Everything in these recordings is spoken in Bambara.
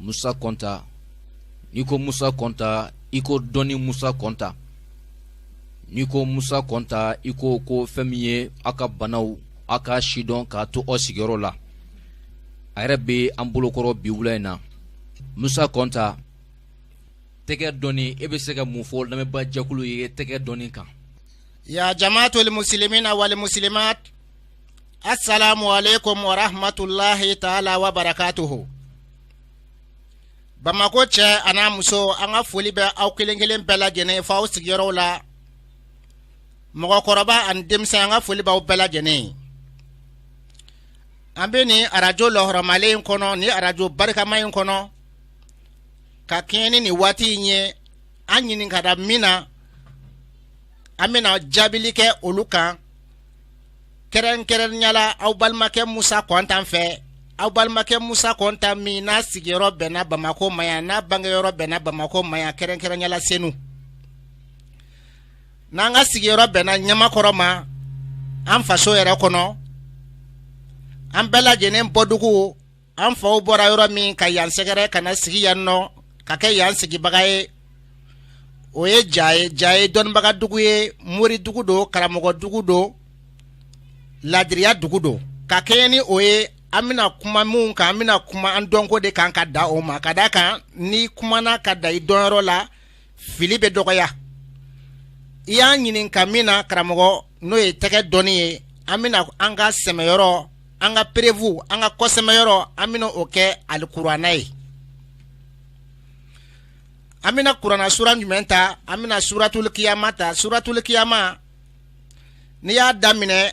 musa kɔnta n'i ko musa kɔnta i ko dɔnni musa kɔnta n'i ko musa kɔnta i ko ko fɛn min ye aw ka banaw aw ka sidɔn k'a to aw sigiyɔrɔ la a yɛrɛ bɛ an bolokɔrɔ bi wula in na musa kɔnta tɛgɛ dɔnni e bɛ se ka mun fɔ lamɛnba jɛkulu ye tɛgɛ dɔnni kan ya jamaatul muslimina wal muslimat Assalamu alaikum wa rahmatullahi ta'ala wa barakatuhu. Bamakɔ cɛ an'a muso an ka foli bɛ aw kelen kelen bɛɛ lajɛlen ye fo aw sigiyɔrɔw la. Mɔgɔkɔrɔba ani denmisɛn an ka foli b'aw bɛɛ lajɛlen ye. An bɛ nin arajo lɔhɔrɔmalen in kɔnɔ ni arajo barikama in kɔnɔ ka kɛɲɛ ni nin waati in ye an ɲininkara min na an bɛna jaabili kɛ olu kan. kɛrɛnkɛrɛnyala aw balimakɛ musa kɔnta fɛ aw balimakɛ musa kɔnta min n'a sigiyɔrɔ bɛnna bamakɔ ma yan n'a bangeyɔrɔ bɛnna bamakɔ ma yan kɛrɛnkɛrɛnyala senu n'an ka sigiyɔrɔ bɛnna ɲamakɔrɔ ma an faso yɛrɛ kɔnɔ an bɛɛ lajɛlen bɔdugu an faw bɔra yɔrɔ min ka yan sɛgɛrɛ ka na sigi yan nɔ ka kɛ yan sigibaga ye o ye ja ye ja ye dɔnnibaga dugu ye moridugu don karamɔgɔdugu don ladiriya dugu don ka kɛɲɛ ni o ye an bɛna kuma minnu kan an bɛna kuma an dɔnko de kan ka da o ma ka d'a kan n'i kumana ka da i dɔnyɔrɔ la fili bɛ dɔgɔya i y'a ɲininka min na karamɔgɔ n'o ye tɛgɛ dɔnni ye an bɛna an ka sɛmɛyɔrɔ an ka preuve an ka kɔsɛmɛyɔrɔ an bɛna o kɛ alikurana ye an bɛna kurana sura jumɛn ta an bɛna suratul kiyama ta suratul kiyama n'i y'a daminɛ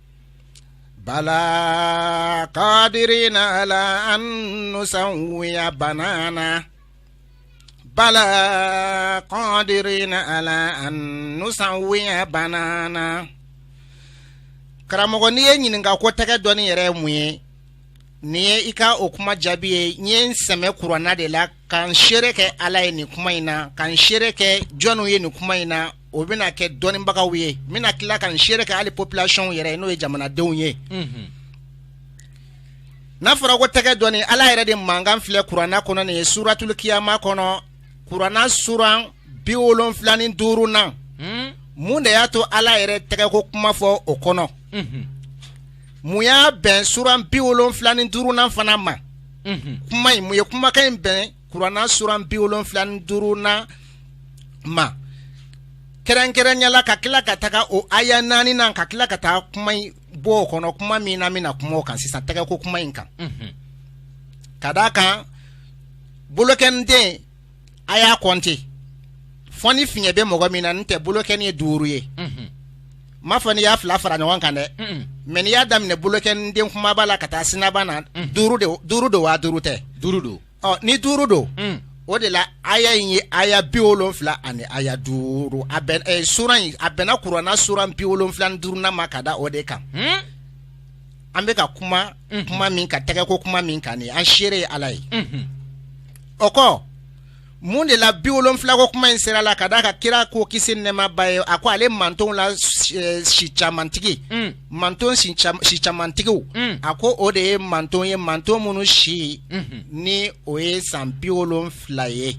bala kadirina ala an nusawiya banana bala kadirina ala an nusawiya banana karamɔgɔ n'i ye n ɲininka ko tɛgɛ dɔnni yɛrɛ ye mun ye nin ye i ka o kuma jaabi ye n ye n sɛmɛ kurana de la Ka n seere kɛ Ala ye nin kuma in na, ka n seere kɛ jɔniw ye nin kuma in na, o bɛna kɛ dɔnnibagaw ye, n bɛna tila ka n seere kɛ hali population yɛrɛ n'o ye jamanadenw ye, unhun, n'a fɔra ko tɛgɛ dɔnni Ala yɛrɛ de mankan filɛ kurana kɔnɔ nin ye suratuli kiyama kɔnɔ kurana suran 70 ni duurunan, un, mun de y'a to Ala yɛrɛ ye tɛgɛko kuma fɔ o kɔnɔ, unhun, mun y'a bɛn suran 70 ni duurunan fana ma kuma in mun ye kumakan in bɛn kuranna suran bi wolonfila ni duurunan ma kɛrɛnkɛrɛnya la ka tila ka taga o aya naaninan ka tila ka taa kuma in bɔ o kɔnɔ kuma min an bɛna kuma o kan sisan tɛgɛ ko kuma in kan ka d'a kan bolokɔniden a y'a kɔnte fo ni fiɲɛ bɛ mɔgɔ min na n tɛ bolokɔni ye duuru ye m'a fɔ n'i y'a fila fara ɲɔgɔn kan dɛ mɛ n'i y'a daminɛ bolokɔniden kumaba la ka taa sinaban na duuru don waa duuru tɛ duuru don ni duuru don o de la aya in ye aya bi wolonfila ani aya duuru suran in a bɛnna kuranna suran bi wolonfila ni duurunan ma ka da o de kan an bɛ ka kuma kuma min kan tɛgɛ ko kuma min kan nin an seere ye ala ye o kɔ mun de la bi wolonfila ko kuma in sera la ka d'a kan kira ko kisi nɛɛma b'a ye a ko ale mantonw la eh, si camantigi mm. manton si camantigiw mm. a ko o de ye manton ye manton minnu si mm-hmm. ni o ye san bi wolonfila ye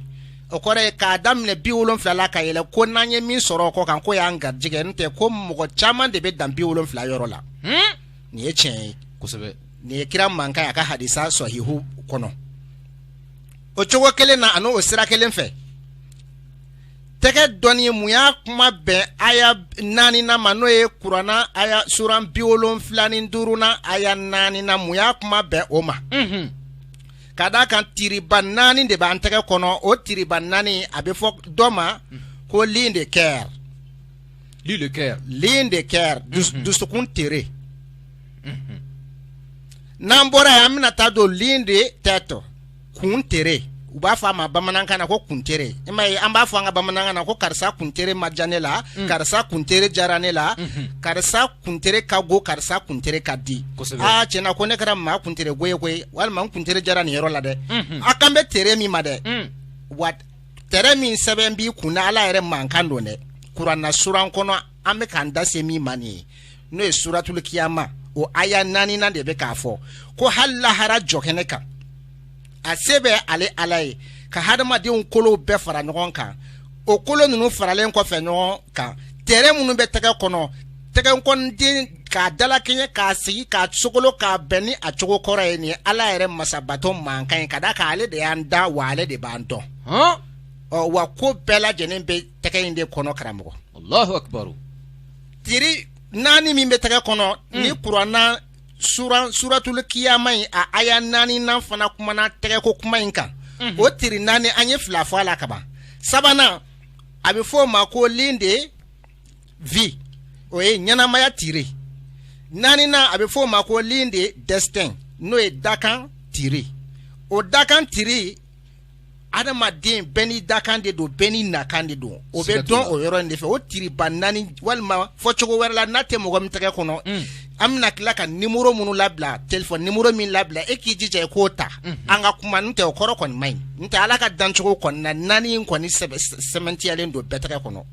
o kɔrɔ ye k'a daminɛ bi wolonfila la ka yɛlɛ ko n'an ye min sɔrɔ o kɔ kan k'o y'an garijɛgɛ n tɛ ko mɔgɔ caman de bɛ dan bi wolonfila yɔrɔ la hmm? nin ye tiɲɛ ye kosɛbɛ nin ye kira mankan ye a ka hadisa sɔhihu kɔnɔ o cogo kelen na ani o sira kelen fɛ tɛgɛ dɔnni mun y'a kuma bɛn aya naaninan ma n'o ye kuranna aya suran bi wolonfila ni duurunan aya naaninan mun y'a kuma bɛn o ma. Mm -hmm. ka d' a kan tiriba naani de b'an tɛgɛ kɔnɔ o tiriba naani a bɛ fɔ dɔ ma ko ligne de cœur ligne de cœur mhm. dusukun tere mhm. n'an bɔra yan an bɛna taa don ligne de tête kun tere u b'a fɔ a ma bamanankan na ko kuntere i m'a ye an b'a fɔ an ka bamanankan na ko karisa kuntere ma diya ne la mm. karisa kuntere diyara ne la mhm. karisa kuntere ka go karisa kuntere ka di aa tiɲɛna ko ne kɛra maa kuntere go ye koyi walima n kuntere diyara nin yɔrɔ la dɛ mhm. a kan bɛ tere min ma dɛ mm. wa tere min sɛbɛn b'i kun na ala yɛrɛ mankan don dɛ kuranna suran kɔnɔ an bɛ k'an da se min ma nin ye n'o ye suratul kiyama o aya naaninan de bɛ k'a fɔ ko hali lahara jɔkɛnɛ kan a se bɛ ale ala ye ka hadamadenw kolow bɛɛ fara ɲɔgɔn kan o kolo ninnu faralen kɔfɛ ɲɔgɔn kan tere minnu bɛ tɛgɛ kɔnɔ tɛgɛkɔniden k'a dalakɛɲɛ k'a sigi k'a sogolo k'a bɛn ni a cogo kɔrɔ ye nin ye ala yɛrɛ masabato mankan ye ka d'a kan ale de y'an da wa ale de b'an dɔn ɔ wa ko bɛɛ lajɛlen bɛ tɛgɛ in de kɔnɔ karamɔgɔ tiri naani min bɛ tɛgɛ kɔnɔ ni kuranna suratuli kiyama in a aya naaninan fana kumana tɛgɛ ko kuma in kan o tiri naani an ye fila fɔ a la kaban sabanan a bɛ fɔ o ma ko ligne de vie o ye ɲɛnamaya tiri naaninan a bɛ fɔ o ma ko ligne de destin n'o ye dakan tiri o dakan tiri adamaden bɛɛ n'i dakan de don bɛɛ n'i nakan de don o bɛ dɔn o yɔrɔ in de fɛ o tiriba naani walima fɔ cogo wɛrɛ la n'a tɛ mɔgɔ min tɛgɛ kɔnɔ mm. an bɛna tila ka nimoro minnu labila telefɔni nimoro min labila e k'i jija i k'o ta mm. an ka kuma n tɛ o kɔrɔ kɔni man ɲi n tɛ ala ka dancogo kɔni na naani in kɔni sɛmɛntiyalen don bɛɛ tɛgɛ kɔnɔ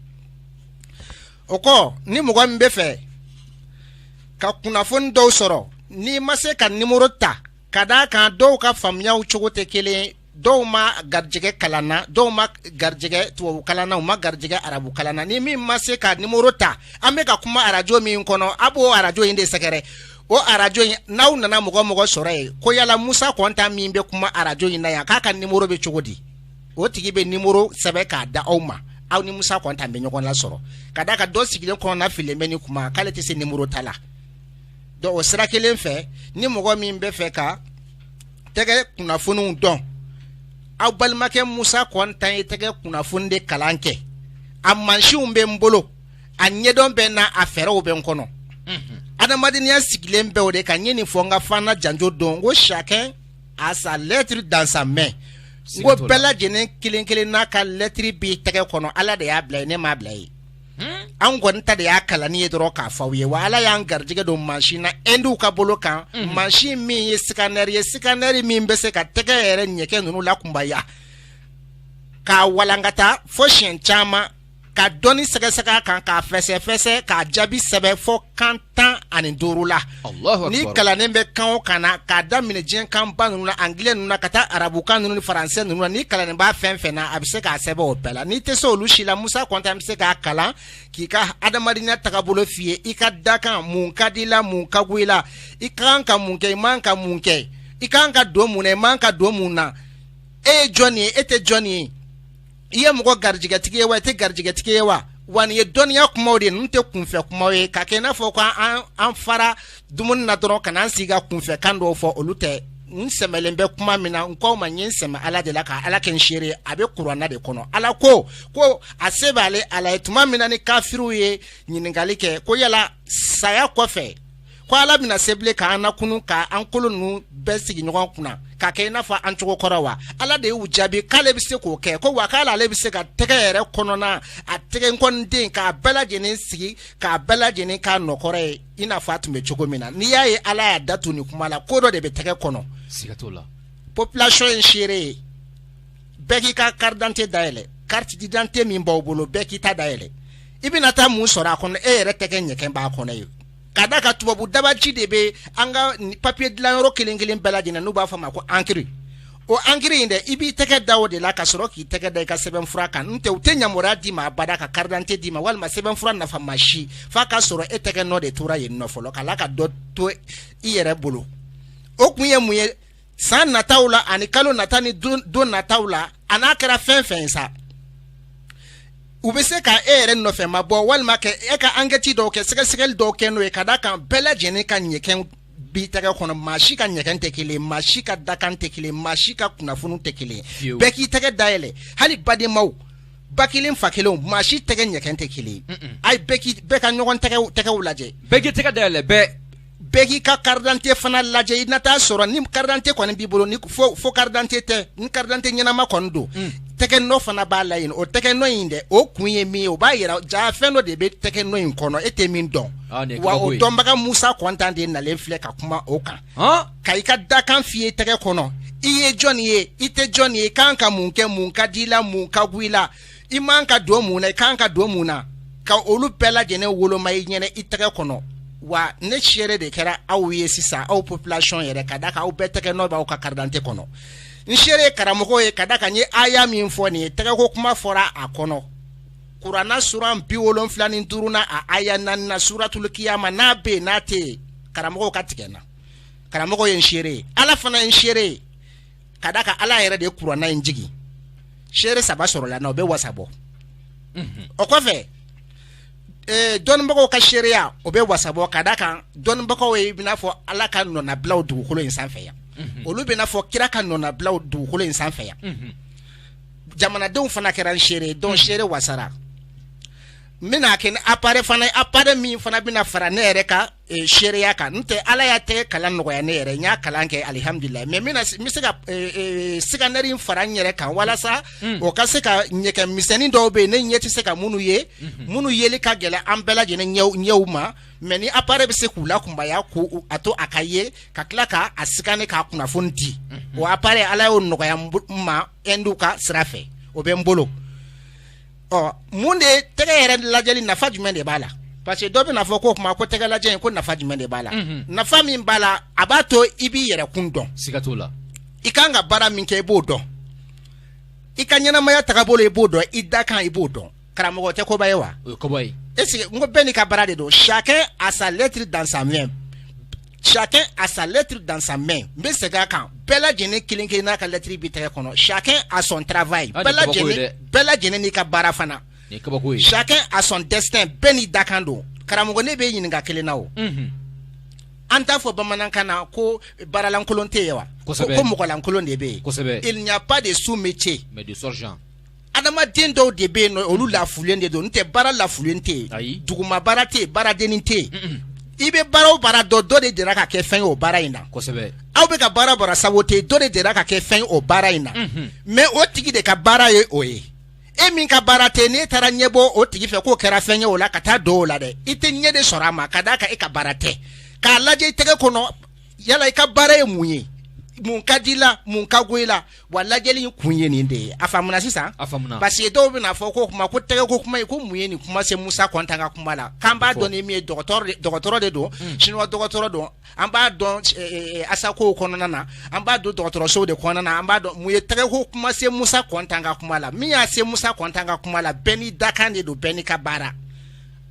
o kɔ ni mɔgɔ min bɛ fɛ ka kunnafoni dɔw sɔrɔ n'i ma se ka nimoro ta Ka d' a kan dɔw ka faamuyaw cogo tɛ kelen dɔw ma garijɛgɛ kalan na dɔw ma garijɛgɛ tubabu kalan na u ma garijɛgɛ arabu kalan na ni min ma se ka nimoro ta an bɛ ka kuma arajo min kɔnɔ a b'o arajo in de sɛgɛrɛ o arajo in n'aw nana mɔgɔ mɔgɔ sɔrɔ ye ko yala musa kɔnta min bɛ kuma arajo in na yan k'a ka nimoro bɛ cogo di o tigi bɛ nimoro sɛbɛn k'a d'aw ma aw ni musa kɔnta bɛ ɲɔgɔn lasɔrɔ ka d' a kan dɔ sigilen kɔnɔnafili bɛ ni kuma k'ale tɛ se nimoro ta la donc o sira kelen fɛ ni mɔgɔ min bɛ fɛ ka tɛgɛ kunnafoniw dɔn aw balimakɛ musa kɔnta ye tɛgɛ kunnafoni de kalan kɛ a mansinw bɛ n bolo a ɲɛdɔn bɛ n na a fɛɛrɛw bɛ n kɔnɔ adamadenya sigilen bɛ o de kan n ye nin fɔ n ka fana janjo don n ko chacun a sa lettre dans sa main n ko bɛɛ lajɛlen kelen kelen n'a ka lettre b'i tɛgɛ kɔnɔ ala de y'a bila ye ne m'a bila ye an kɔni ta de y'a kalanni ye dɔrɔn k'a fɔ aw ye wa ala y'an garijɛgɛ don mansin na endiw ka bolo kan mhm. mansin min ye sikanɛri ye sikanɛri min bɛ se ka tɛgɛ yɛrɛ ɲɛkɛ ninnu lakunbaya k'a walankata fo siɲɛ caman ka dɔnni sɛgɛsɛgɛ a kan k'a fɛsɛfɛsɛ k'a jaabi sɛbɛn fo kan tan ani duuru la n'i kalannen bɛ kan o kan na k'a daminɛ diɲɛ kanba ninnu na angilɛ ninnu na ka taa arabukan ninnu ni faransɛ ninnu na n'i kalannen b'a fɛn fɛn na a bɛ se k'a sɛbɛn o bɛɛ la n'i tɛ se olu si la musa kɔnta bɛ se k'a kalan k'i ka adamadenya tagabolo f'i ye i ka dakan mun ka di i la mun ka go i la i ka kan ka mun kɛ i man ka mun kɛ i ka kan ka don mun na i man ka don mun na e ye jɔn ye e tɛ jɔn ye i ye mɔgɔ garijɛgɛtigi ye wa i tɛ garijɛgɛtigi ye wa wa nin ye dɔnniya kumaw de ninnu tɛ kunfɛ kumaw ye ka kɛ i n'a fɔ ko an fara dumuni na dɔrɔn ka n'an sigi ka kunfɛ kan dɔw fɔ olu tɛ n sɛmɛlen bɛ kuma min na n k'aw ma n ye n sɛmɛ ala de la ka ala kɛ n seere ye a bɛ kuranna de kɔnɔ ala ko ko a se b'ale ala ye tuma min na ni kafiriw ye ɲininkali kɛ ko yala saya kɔfɛ ko ala bɛna se bilen k'an nakunun ka an kolo ninnu bɛɛ sigi ɲɔgɔn kunna ka kɛ i n'a fɔ an cogo kɔrɔ wa ala de y'u jaabi k'ale bɛ se k'o kɛ ko wa k'ala ale bɛ se ka tɛgɛ yɛrɛ kɔnɔna a tɛgɛ nkɔniden k'a bɛɛ lajɛlen sigi k'a bɛɛ lajɛlen k'a nɔ kɔrɔ ye i n'a fɔ a tun bɛ cogo min na n'i y'a ye ala y'a da tun nin kuma la ko dɔ de bɛ tɛgɛ kɔnɔ siga t'o la population ye n seere ye bɛɛ k'i ka carte d'identité dayɛlɛ carte d'identité min b'aw bolo bɛɛ k'i ta dayɛlɛ i bɛna taa mun sɔrɔ a kɔnɔ e yɛrɛ tɛgɛ ɲɛgɛn b'a kɔnɔ yen ka d'a kan tubabu dabaji de bɛ an ka papiye dilanyɔrɔ kelen kelen bɛɛ lajɛlen n'u b'a f'a ma ko ankiri o ankiri in dɛ i b'i tɛgɛ da o de la ka sɔrɔ k'i tɛgɛ da i ka sɛbɛnfura kan n tɛ u tɛ yamaruya d'i ma abada ka karidante d'i ma walima sɛbɛnfura nafama si f'a ka sɔrɔ e tɛgɛ nɔ de tora yen nɔ fɔlɔ ka tila ka dɔ to i yɛrɛ bolo o kun ye mun ye san nataw la ani kalo nata ni don nataw la a n'a kɛra fɛn fɛn sa u bɛ se ka e yɛrɛ nɔfɛ ma bɔ walima ka e ka ankɛti dɔw kɛ sɛgɛsɛgɛli dɔw kɛ n'o ye ka d'a kan bɛɛ lajɛlen ka ɲɛgɛn bɛ tɛgɛ kɔnɔ maa si ka ɲɛgɛn tɛ kelen maa si ka dakan tɛ kelen maa si ka kunnafoni tɛ kelen bɛɛ k'i tɛgɛ dayɛlɛ hali badenmaw ba kelen fa kelen maa si tɛgɛ ɲɛgɛn tɛ kelen ayi bɛɛ ka ɲɔgɔn tɛgɛw lajɛ bɛɛ k'i tɛgɛ dayɛlɛ bɛɛ bɛɛ k'i ka karidante fana lajɛ i na taa sɔrɔ ni karidante kɔni b'i bolo ni faux karidante tɛ ni karidante ɲɛnama kɔni don mm. tɛgɛ nɔ fana b'a la yen o tɛgɛ nɔ in dɛ o kun ye min ye o b'a jira jaa fɛn dɔ de bɛ tɛgɛ nɔ in kɔnɔ e tɛ min dɔn ah, wa o dɔnbaga musa kɔntan de nalen filɛ ka kuma o kan ka i ka dakan f'i ye tɛgɛ kɔnɔ i ye jɔn ye i tɛ jɔn ye kan ka mun kɛ mun ka di i la mun ka go i la i man ka don mun na i kan ka don mun na ka olu bɛɛ lajɛlen woloma i ɲɛna i tɛgɛ kɔnɔ wa ne seere de kɛra aw ye sisan aw population yɛrɛ ka d'a kan aw bɛɛ tɛgɛ nɔ b'aw ka karidante kɔnɔ n seere ye karamɔgɔ ye ka d'a kan n ye aya min fɔ nin ye tɛgɛko kuma fɔra a kɔnɔ kurana suran biwolonfila ni duurunan a aya naaninan suratul kiyama n'a bɛ yen n'a tɛ yen karamɔgɔw ka tigɛ n na karamɔgɔ ye n seere ye ala fana ye n seere ye ka d'a kan ala yɛrɛ de ye kurana in jigin seere saba sɔrɔla n na o bɛ wasa bɔ mhm. o kɔfɛ eh, dɔnnibagaw ka seereya o bɛ wasa bɔ ka d'a kan dɔnnibagaw ye b'i n'a fɔ ala ka nɔnabilaw dugukolo in sanfɛ yan mhm. olu b'i n'a fɔ kira ka nɔnabilaw dugukolo in sanfɛ yan mhm. jamanadenw fana kɛra n seere ye donc seere wasara n bɛna kɛ ni apare fana ye apare min fana bɛna fara ne yɛrɛ ka seereya kan n tɛ ala ye tɛgɛ kalan nɔgɔya ne yɛrɛ n y'a kalan kɛ alihamdulila mɛ n bɛna n bɛ se ka sikanɛri in fara n yɛrɛ kan walasa o ka se ka ɲɛgɛn misɛnnin dɔw bɛ yen ne ɲɛ tɛ se ka minnu ye minnu yeli ka gɛlɛn an bɛɛ lajɛlen ɲɛw ma mɛ nin apare bɛ se k'u lakunbaya ko a to a ka ye ka tila k'a sikane k'a kunnafoni di o apare ala y'o nɔgɔya n ma induw ka sira fɛ o bɛ n bolo ɔ mun de ye tɛgɛ yɛrɛ lajɛli nafa jumɛn de b'a la parce que dɔ bɛna fɔ ko o tuma ko tɛgɛ lajɛli ko nafa jumɛn de b'a la Mhm. nafa min b'a la a b'a to i b'i yɛrɛ kun dɔn siga t'o la i kan ka baara min kɛ i b'o dɔn i ka ɲɛnamaya tagabolo i b'o dɔn i dakan i b'o dɔn karamɔgɔ tɛ koba ye wa o ye koba ye est ce que n ko bɛɛ n'i ka baara de don chacun a sa lettre dans sa main Chacun a sa lettre dans sa main n bɛ segin a kan bɛɛ lajɛlen kelen kelenna ka lettre b'i tɛgɛ kɔnɔ chacun a son travail Ah, nin ye kabako ye dɛ. bɛɛ lajɛlen n'i ka baara fana Nin ye kabako ye. chacun a son destin bɛɛ n'i dakan don karamɔgɔ ne b'i ɲininka kelen na o Unhun. an t'a fɔ bamanankan na ko baaralankolon tɛ yen wa Kosɛbɛ. ko ko mɔgɔlankolon de bɛ yen Kosɛbɛ. il n'y a pas de sous métier Mais de sottes gens. adamaden dɔw de bɛ yen olu lafulen de don n tɛ baara lafulen tɛ yen duguma baara tɛ baaradennin tɛ yen i bɛ baara o baara dɔn dɔ delila ka kɛ fɛn o baara in na aw bɛ ka baara bara sabu tɛ dɔ delila ka kɛ fɛn o baara in na mais o tigi de ka baara ye o ye e min ka baara tɛ n'e taara ɲɛ bɔ o tigi fɛ k'o kɛra fɛn ye o la ka taa don o la dɛ i tɛ ɲɛ de sɔrɔ a ma ka d'a kan e ka baara tɛ k'a lajɛ i tɛgɛ kɔnɔ yala i ka baara ye mun ye mun ka d'i la mun ka go i la wa lajɛli in kun ye nin de ye a faamuna sisan a faamuna parce que dɔw bɛna fɔ ko kuma ko tɛgɛ ko kuma ye ko mun ye nin kuma se Musa Kɔntan ka kuma la k'an b'a dɔn ni min ye dɔgɔtɔrɔ de dɔgɔtɔrɔ de don hmm. chinois dɔgɔtɔrɔ don an b'a dɔn eh, eh, eh, asakow kɔnɔna na an b'a dɔn dɔgɔtɔrɔsow de kɔnɔna na an b'a dɔn mun ye tɛgɛ ko kuma se Musa Kɔntan ka kuma la min y'a se Musa Kɔntan ka kuma la bɛɛ n'i dakan de don bɛɛ n'i ka baara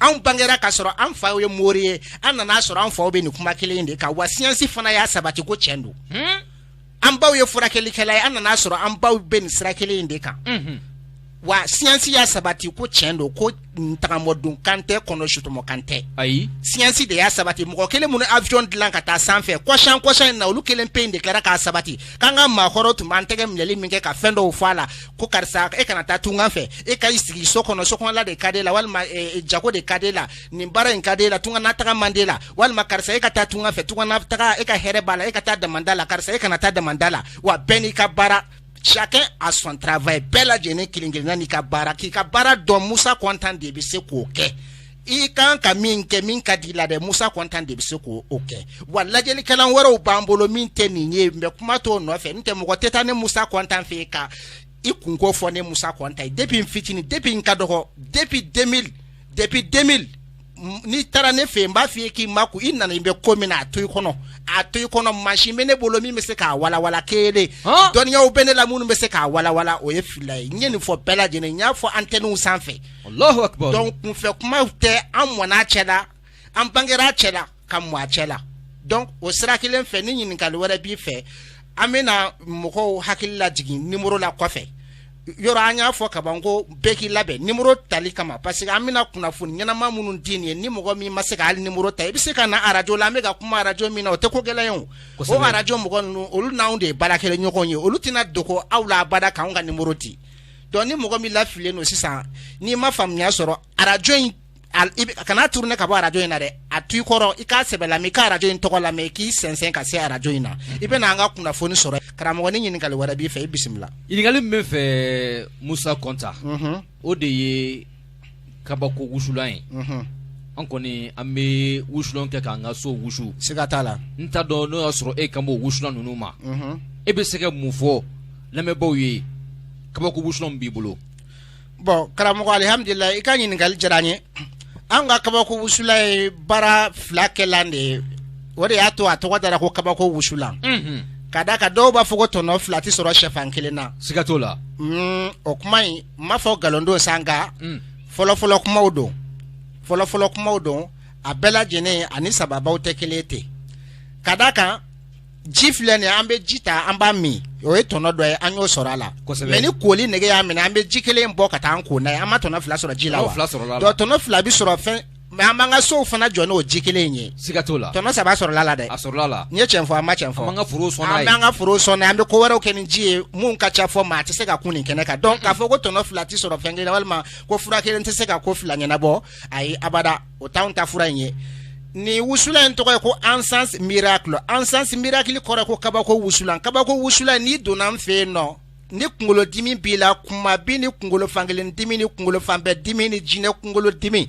anw bangera k'a sɔrɔ an faw ye mori ye an nana'a sɔrɔ an faw bɛ nin kuma kelen in de kan wa siyansi fana y'a sabati ko tiɲɛ don hmm? an baw ye furakɛlikɛla ye an nana'a sɔrɔ an baw bɛ nin sira kelen in de kan wa siyansi y'a sabati ko tiɲɛ don ko tagamɔdon kan tɛ kɔnɔ su tɔmɔ kan tɛ ayi siyansi de y'a sabati mɔgɔ kelen minnu avion dilan ka taa sanfɛ kɔshan kɔshan in na olu kelen pe in de tilala k'a sabati k'an ka maakɔrɔw tun b'an tɛgɛ minɛli min kɛ ka fɛn dɔw fɔ a la ko karisa e kana taa tungan fɛ e ka i sigi so kɔnɔ sokɔnɔla de ka di e la walima eh, jago de ka di e la nin baara in ka di e la tunga na taga man di e la walima karisa e ka taa tunga fɛ tunga na taga e ka hɛrɛ b'a la e ka taa damanda la karisa e kana taa damanda la wa bɛɛ n'i ka baara chacun a son travail bɛɛ lajɛlen kelen kelenna n'i ka baara k'i ka baara dɔn musa kɔntan de bɛ se k'o kɛ i kan ka min kɛ min ka d'i la dɛ musa kɔntan de bɛ se k'o o kɛ wa lajɛlikɛlan wɛrɛw b'an bolo min tɛ nin ye n bɛ kuma t'o nɔfɛ n tɛ mɔgɔ tɛ taa ne musa kɔntan fɛ yen ka i kun ko fɔ ne musa kɔnta ye depuis n fitini depuis n ka dɔgɔ depuis 2000 depuis 2000 n'i taara ne fɛ yen n b'a f'i ye k'i makun i nanen bɛ ko min na a to i kɔnɔ a to i kɔnɔ mansin bɛ ne bolo min bɛ se k'a walawala kelen dɔnniyaw bɛ ne la minnu bɛ se k'a walawala o ye fila ye n ye nin fɔ bɛɛ lajɛlen n y'a fɔ antɛniw sanfɛ donc kunfɛ kuma tɛ an mɔn'a cɛ la an bangera a cɛ la ka mɔ a cɛ la donc o sira kelen fɛ ni ɲininkali wɛrɛ b'i fɛ an bɛna mɔgɔw hakili lajigin nimoro la kɔfɛ yɔrɔ an y'a fɔ kaban ko bɛɛ k'i labɛn nimoro tali kama parce que an bɛna kunnafoni ɲɛnama minnu di nin ye ni mɔgɔ min ma se ka hali nimoro ta i bɛ se ka na arajo la an bɛ ka kuma arajo min na o tɛ ko gɛlɛn ye o Kosɛbɛ. o arajo mɔgɔ ninnu olu n'anw de ye baarakɛla ɲɔgɔn ye olu tɛna dogo aw la abada k'anw ka nimoro di donc ni mɔgɔ min lafilen don sisan n'i ma faamuya sɔrɔ arajo in kana tourner ka bɔ arajo in na dɛ a to i kɔrɔ i k'a sɛbɛ lamɛn ka arajo in tɔgɔ lamɛn k'i sɛnsɛn ka se arajo in na i bɛna an ka kunnafoni sɔrɔ karamɔgɔ ni ɲininkali wɛrɛ b'i fɛ i bisimila ɲininkali min bɛ n fɛ musa kɔnta o de ye kabako wusulan ye an kɔni an bɛ wusulan kɛ k'an ka so wusu siga t'a la n t'a dɔn n'o y'a sɔrɔ e kan b'o wusulan ninnu ma e bɛ se ka mun fɔ lamɛnbaaw ye kabako wusulan b'i bolo bon karamɔgɔ alihamdulila i ka ɲininkali diyara n ye an ka kabako wusulan ye baara fila kɛlan de ye o de y'a to a tɔgɔ dara ko kabako wusulan ka da kan dɔw b'a fɔ ko tɔnɔ fila tɛ sɔrɔ shɛfan kelen na siga t'o la mm, o kuma in n m'a fɔ nkalon don sa nka mm. fɔlɔfɔlɔ kumaw don fɔlɔfɔlɔ kumaw don a bɛɛ lajɛlen ani sababuw tɛ kelen ten ka da kan ji filɛ nin an bɛ ji ta an b'a min o ye tɔnɔ dɔ ye an y'o sɔrɔ a la mais ni koli nege y'an minɛ an bɛ ji kelen bɔ ka taa an ko n'a ye an ma tɔnɔ fila sɔrɔ ji la tɔnɔ fila bɛ sɔrɔ fɛn mais an b'an ka sow fana jɔ n'o ji kelen in ye siga t'o la tɔnɔ saba sɔrɔla la dɛ a sɔrɔla la n ye cɛn fɔ an ma cɛn fɔ an ka foro sɔn an b'an ka foro sɔn an bɛ ko wɛrɛw kɛ ni ji ye mun ka ca fɔ maa tɛ se ka kun nin kɛnɛ kan donc k'a fɔ ko tɔnɔ fila tɛ sɔrɔ fɛn kelen walima ko fura kelen tɛ se ka ko fila ɲɛnabɔ ayi abada o t'anw ta fura in ye nin wusulan in tɔgɔ ye ko encens mi encens miracle kɔrɔ ko kabako wusulan kabako wusulan n'i donna an fɛ yen nɔ ni kunkolo dimi b'i la kuma bin ni kunkolo fankelen dimi ni kunkolo fan bɛɛ dimi ni jinɛ kunkolo dimi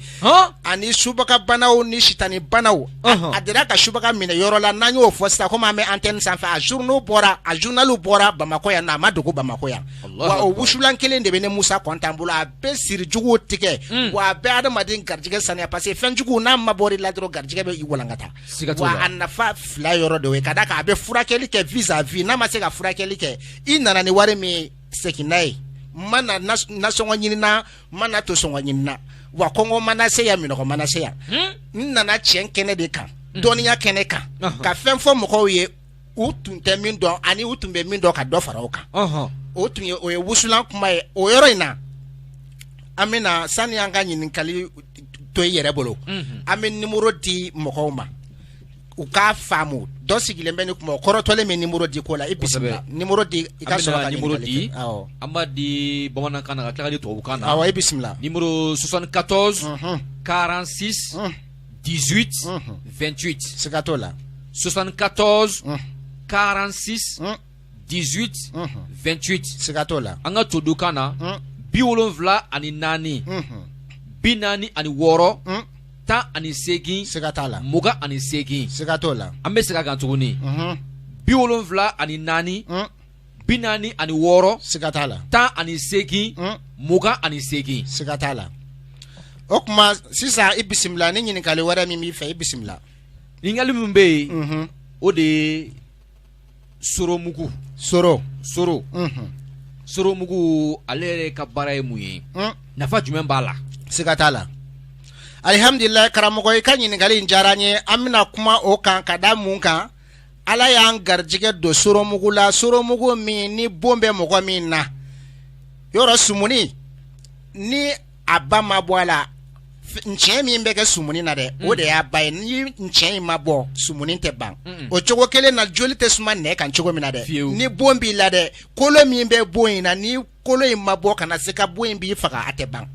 ani subaga banaw ni sitani banaw a delila ka subaga minɛ yɔrɔ la n'an y'o fɔ sisan komi an bɛ antenne sanfɛ a zurunali bɔra a zurunali bɔra bamakɔ yan na a ma dogo bamakɔ yan wa o wusulan kelen de bɛ ne musa kɔnta bolo bɛ sirijugu tigɛ mm. wa a bɛ adamaden garijɛgɛ saniya parce que fɛnjugu n'a mabɔr'i la dɔrɔn garijɛgɛ bɛ i walankata wa a nafa fila yɔrɔ de ye ka da kan a bɛ furakɛli kɛ vis-à-vis n'a ma se ka furakɛli kɛ i nana ni wari min segin n'a ye n ma na nasɔngɔ ɲinina n ma na to sɔngɔ ɲinina wa kɔngɔ ma n nase yan minnɔgɔ ma n nase yan hmm? n nana tiɲɛ kɛnɛ de kan hmm. dɔnniya kɛnɛ kan ka fɛn fɔ mɔgɔw ye u tun tɛ min dɔn ani u tun bɛ min dɔn ka dɔ fara o kan o tun ye o ye wusulan kuma ye o yɔrɔ in na an bɛna sani an ka ɲininkali to i yɛrɛ bolo mhm. an bɛ nimoro di mɔgɔw ma u k'a faamu dɔ sigilen bɛ ni kuma o kɔrɔtɔlen bɛ nimoro di ko la i bisimila nimoro di i ka sɔrɔ ka nimoro di an b'a di bamanankan na ka tila k'a di tubabukan na awɔ i bisimila nimoro 74 46 18 28 siga t'o la 74 46 18 28 siga t'o la an ka todukan na bi wolonwula ani naani bi naani ani wɔɔrɔ tan ani seegin siga t'a la mugan ani seegin siga t'o la an bɛ segin a kan tuguni bi wolonwula ani naani bi naani ani wɔɔrɔ siga t'a la tan ani seegin hmm. mugan ani seegin siga t'a la o tuma sisan i bisimila ni ɲininkali wɛrɛ min b'i fɛ i bisimila ɲininkali min bɛ yen mhm. o de ye soromugu soro soro mhm. soromugu ale yɛrɛ ka baara ye mun ye hmm. nafa jumɛn b'a la siga t'a la alihamdulilayi karamɔgɔ i ka ɲininkali in diyara n ye an bɛna kuma o kan ka da mun kan Ala y'an garijɛgɛ don soromugu la soromugu min ni bon bɛ mɔgɔ min na yɔrɔ sumuni ni a ba ma bɔ a la cɛ min bɛ kɛ sumuni na dɛ o de y'a ba ye ni cɛ in ma bɔ sumuni tɛ ban o cogo kelen na joli tɛ suma nɛ kan cogo min na dɛ ni bon b'i la dɛ kolo min bɛ bon in na kolo in ma bɔ kana siga bon in b'i faga a tɛ ban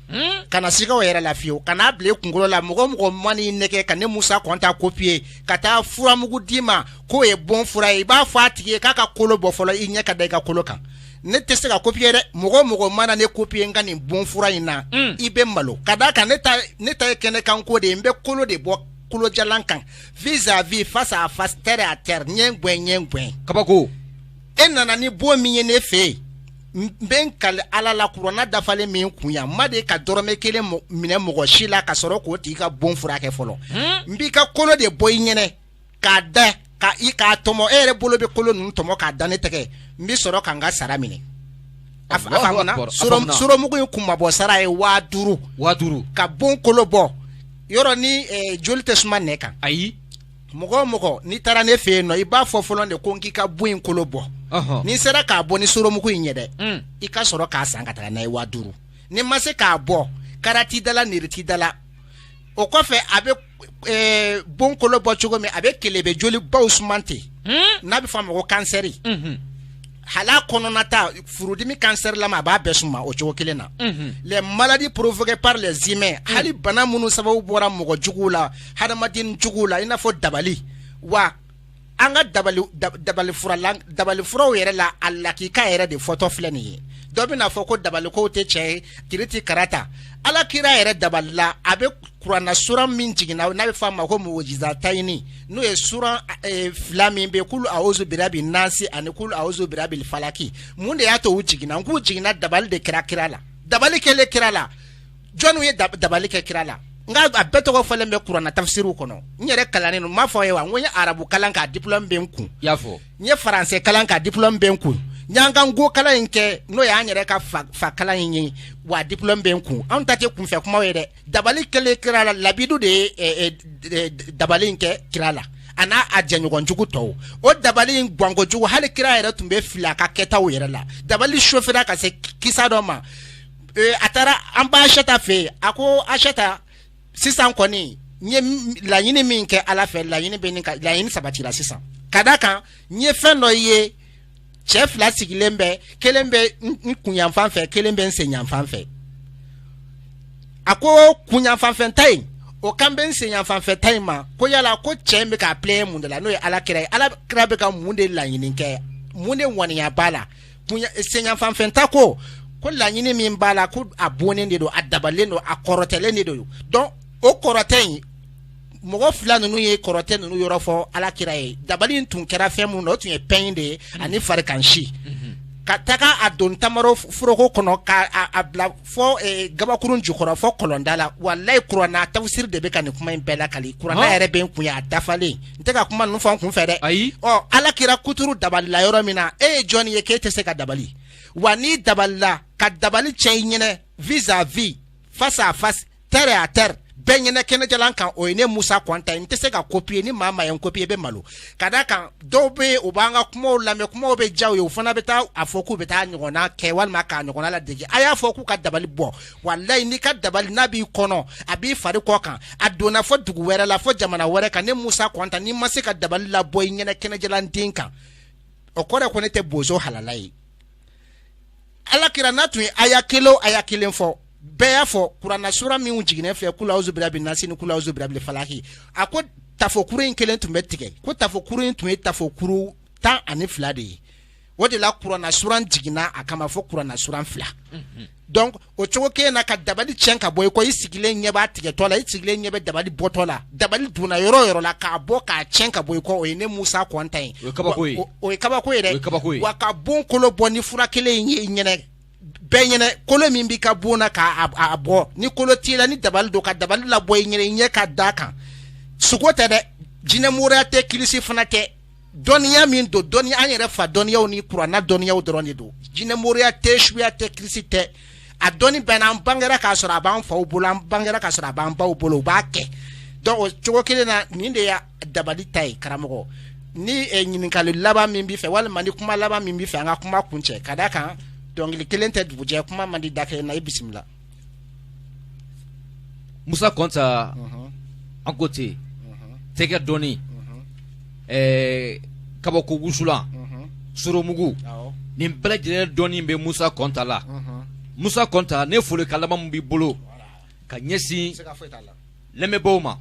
hmm? kana siga o yɛrɛ la fiyewu kana bila kunkolo la mɔgɔ o mɔgɔ man'i nɛgɛn ka ne musa kɔnta kopiye ka taa furamugu d'i ma k'o ye bon fura ye i b'a fɔ a tigi ye k'a ka kolo bɔ fɔlɔ i ɲɛ ka da i ka kolo kan ne tɛ se ka kopiye dɛ mɔgɔ o mɔgɔ mana ne kopiye n ka nin bon fura in na hmm. i bɛ malo ka d'a kan ne ta ne ta ye kɛnɛ kan ko de ye n bɛ kolo de bɔ kolojalan kan vis-à-vis face à face terre à terre ɲɛ ŋɛn ɲɛ ŋɛn kabako e nana ni bon min ye ne fɛ yen n bɛ n kali ala la kurana dafalen min kun yan n ma deli ka dɔrɔmɛ kelen minɛ mɔgɔ si la ka sɔrɔ k'o tigi ka bon furakɛ fɔlɔ hmm? n b'i ka kolo de bɔ i ɲɛnɛ k'a da ka i k'a tɔmɔ e yɛrɛ bolo bɛ kolo ninnu tɔmɔ k'a da ne tɛgɛ n bɛ sɔrɔ ka n ka sara minɛ a faamuya soromugu in kunmabɔ sara ye waa duuru waa duuru ka bon kolo bɔ yɔrɔ ni eh, joli tɛ suma nɛ kan ayi mɔgɔ o mɔgɔ n'i taara ne fɛ yen nɔ i b'a fɔ fɔlɔ de ko n k'i ka bon in kolo bɔ ni n sera k'a bɔ ni soromugu in ye dɛ mm. i ka sɔrɔ k'a san ka taa n'a ye waa duuru ni n ma se k'a bɔ karati dala niriti dala o kɔfɛ a bɛ eh, bon kolo bɔ cogo min a bɛ kelebe joli baw suma ten mm. n'a bɛ fɔ a ma ko kansɛri mm-hmm. hali a kɔnɔnata furudimi kansɛrilama a b'a bɛɛ suma o cogo kelen na les maladies provoquées par les humains hali bana minnu sababu bɔra mɔgɔ juguw la hadamaden juguw la i n'a fɔ dabali wa an ka dabali dabali furaw yɛrɛ la a lakika yɛrɛ de fɔtɔ filɛ nin ye dɔ bɛn'a fɔ ko dabalikow tɛ cɛn ye kiriti karata ala kira yɛrɛ dabalila a bɛ kuranna suran min jiginna n'a bɛ fɔ a ma ko mujiza tayini n'o ye suran eh, fila min bɛ kulu awuzu birabi nasi ani kulu awuzu birabi falaki mun de y'a to u jiginna n k'u jiginna dabali de kɛra kira la dabali kɛlen kira la jɔnniw ye dabali kɛ kira la nka a bɛɛ tɔgɔ fɔlen bɛ kuranna tafisiriw kɔnɔ n yɛrɛ kalannen don n m'a fɔ a ye wa n ko n ye arabu kalan k'a diplɔme bɛ n kun n ye faransɛ kalan k'a diplɔme bɛ n kun n y'an ka nko kalan in kɛ n'o y'an yɛrɛ ka fa kalan in ye wa diplɔme bɛ n kun anw ta tɛ kunfɛ kumaw ye dɛ dabali kɛlen kira la labidu de ye eh, eh, d- eh, d- dabali in kɛ kira la a n'a a jɛɲɔgɔn jugu tɔw o dabali in gwanko jugu hali kira yɛrɛ tun bɛ fili a ka kɛtaw yɛrɛ la dabali sofera ka se ki- kisa dɔ ma Eh, a taara an ba asata fɛ yen a ko asata sisan kɔni n ye m- laɲini min kɛ ala fɛ laɲini bɛ nin ka laɲini sabatira sisan ka da kan n ye fɛn dɔ ye cɛ fila sigilen bɛ kelen bɛ n kunyanfan fɛ kelen bɛ n senyanfan fɛ a ko kunyanfan fɛ ta in o kan bɛ n senyanfan fɛ ta in ma ko yala ko cɛ in bɛ k'a pilɛn mun de la n'o ye ala kira ye ala kira bɛ ka mun de laɲini kɛ mun de ŋaniya b'a la senyanfan fɛ ta ko ko laɲini min b'a la ko a bonnen de don a dabalen don a kɔrɔtɛlen de don donc o kɔrɔtɛ in mɔgɔ fila ninnu ye kɔrɔtɛ ninnu yɔrɔ fɔ ala kira ye dabali in tun kɛra fɛn minnu na o tun ye pɛn in de ye ani farikansi ka taga a don tamaro foroko kɔnɔ ka a- a bila fɔ eh, gabakurun jukɔrɔ fɔ kɔlɔnda la walayi kuranna tafsiri de bɛ ka nin kuma in bɛɛ lakali kuranna Hɔn. yɛrɛ bɛ n kun ye a dafalen n tɛ ka kuma ninnu fɔ n kun fɛ dɛ ayi ɔ ala kira kuturu dabalila yɔrɔ min na e ye jɔnni ye k'e tɛ se ka dabali wa n'i dabalila ka dabali cɛ i ɲɛnɛ vis à vis face à face terre à terre bɛɛ ɲɛnɛ kɛnɛjalan kan o ye ne musa kɔnta ye n tɛ se ka kopiye ni maa maa ye n kopiye bɛ malo ka da kan dɔw bɛ yen u b'an ka kumaw lamɛn kumaw bɛ diya u ye u fana bɛ taa a fɔ k'u bɛ taa ɲɔgɔnna kɛ walima k'a ɲɔgɔnna ladege a y'a fɔ k'u ka dabali bɔ walayi n'i ka dabali n'a b'i kɔnɔ a b'i fari kɔ kan a donna fɔ dugu wɛrɛ la fɔ jamana wɛrɛ kan ne musa kɔnta n'i ma se ka dabali labɔ i ɲɛnɛ kɛnɛjalan den kan o kɔrɔ ko ne tɛ bozo halala ye ala kira n'a tun ye aya kelen aya kelen fɔ bɛɛ y'a fɔ kuranna sura min jiginnen filɛ kulu awuzu birabi nasi ni kulu awuzu birabi falaki a ko tafokuru in kelen tun bɛ tigɛ ko tafokuru in tun ye tafokuru tan ani fila de ye o de la kuranna suran jiginna a kama fɔ kuranna suran fila mhm. donc o cogo kelen na ka dabali tiɲɛ ka bɔ i kɔ i sigilen ɲɛ b'a tigɛtɔ la i sigilen ɲɛ bɛ dabali bɔtɔ la dabali donna yɔrɔ o yɔrɔ la k'a bɔ k'a tiɲɛ ka bɔ i kɔ o ye ne musa kɔnta ye o ye kabako ye o ye kabako ye dɛ wa ka bon kolo bɔ ni fura kelen in ye i ɲɛnɛ bɛɛ ɲɛnɛ kolo min b'i ka bon na k'a bɔ ni kolo t'i la ni dabali don ka dabali labɔ i ɲɛnɛ i ɲɛ ka da kan sugo tɛ dɛ jinɛmoriya tɛ kilisi fana tɛ dɔnniya min don dɔnni an yɛrɛ fa dɔnniyaw ni kuranna dɔnniyaw dɔrɔn de don jinɛmoriya tɛ suya tɛ kirisi tɛ a dɔnni bɛɛ n'an bangera k'a sɔrɔ a b'an faw bolo an bangera k'a sɔrɔ a b'an baw bolo u b'a kɛ donc o cogo kelen na nin de y'a dabali ta ye karamɔgɔ ni eh, ɲininkali laban min b'i fɛ walima ni kuma laban min b'i fɛ an ka kuma kuncɛ ka d'a kan dɔnkili kelen tɛ dugu jɛ kuma man di da kelen na i bisimila Musa kɔnta an ko ten tɛgɛ dɔnni ɛɛ kabako wusulan soromugu nin bɛɛ lajɛlen dɔnni bɛ musa kɔnta la musa kɔnta ni folikan laban min b'i bolo ka ɲɛsin lamɛnbaw ma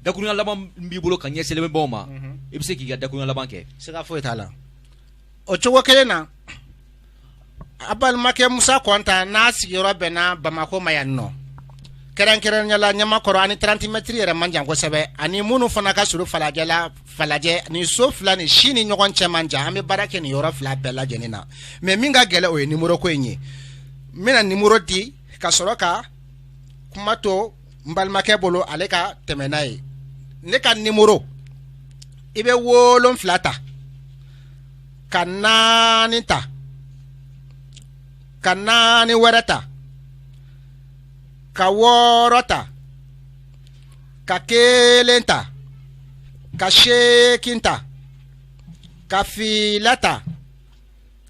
dakuruya laban b'i bolo ka ɲɛsin lamɛnbaw ma i bɛ se k'i ka dakuruya laban kɛ foyi t'a la o cogo kelen na a balimakɛ musa kɔnta n'a sigiyɔrɔ bɛnna bamakɔ ma yan nɔ kɛrɛnkɛrɛnya la ɲamakɔrɔ ani trente mètres yɛrɛ man jan kosɛbɛ ani minnu fana ka surun falajɛ la falajɛ ni so fila ni si ni ɲɔgɔn cɛ man jan an bɛ baara kɛ nin yɔrɔ fila bɛɛ lajɛlen na mais min ka gɛlɛn o ye nimoro ko in ye n bɛna nimoro di ka sɔrɔ ka kuma to n balimakɛ bolo ale ka tɛmɛ n'a ye ne ka nimoro i bɛ wolonfila ta ka naani ta ka naani wɛrɛ ta ka wɔɔrɔ ta ka kelen ta ka seekin ta ka fila ta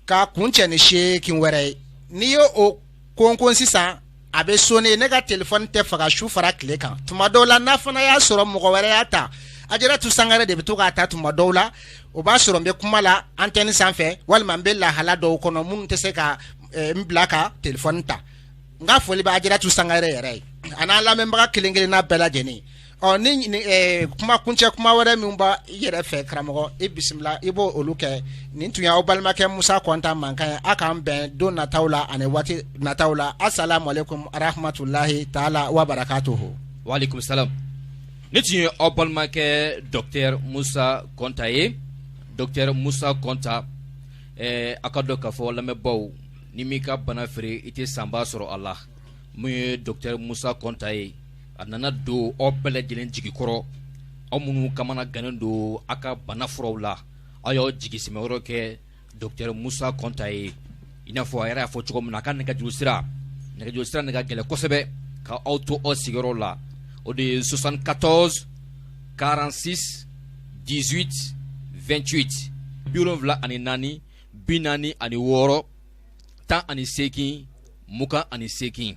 k'a kuncɛ ni seekin wɛrɛ ye n'i ye o konkon sisan a bɛ sonner ne ka telefɔni tɛ faga su fara tile kan tuma dɔw la n'a fana y'a sɔrɔ mɔgɔ wɛrɛ y'a ta Ajaratu Sangare de bɛ to k'a ta tuma dɔw la o b'a sɔrɔ n bɛ kuma la antenne sanfɛ walima n bɛ lahala dɔw kɔnɔ minnu tɛ se ka eh, n bila ka telefɔni ta n ka foli bɛ Ajaratu Sangare yɛrɛ ye a n'a lamɛnbaga kelen kelenna bɛɛ lajɛlen Ɔ ni kuma kuncɛ kuma wɛrɛ min b'i yɛrɛ fɛ karamɔgɔ i bisimila i bɛ olu kɛ nin tun y'aw balimakɛ musa kɔnta mankan ye aw k'an bɛn don nataw la ani waati nataw la assalamu aleykum wa rahmatulahi taala wa barakatuhu wa aleykum salam nin tun ye aw balimakɛ docteur musa kɔnta ye docteur musa kɔnta aw k'a dɔn k'a fɔ lamɛnbaw n'i m'i ka bana feere i tɛ sanba sɔrɔ a la min ye docteur musa kɔnta ye a nana don aw bɛɛ lajɛlen jigi kɔrɔ aw minnu kamanagannen don aw ka bana furaw la aw y'aw jigi sɛmɛyɔrɔ kɛ docteur Musa Kɔnta ye i n'a fɔ a yɛrɛ y'a fɔ cogo min na a ka nɛgɛjuru sira nɛgɛjuru sira de ka gɛlɛn kosɛbɛ ka aw to aw sigiyɔrɔ la o de ye 74 46 18 28 bi wolonwula ani naani bi naani ani wɔɔrɔ tan ani seegin mugan ani seegin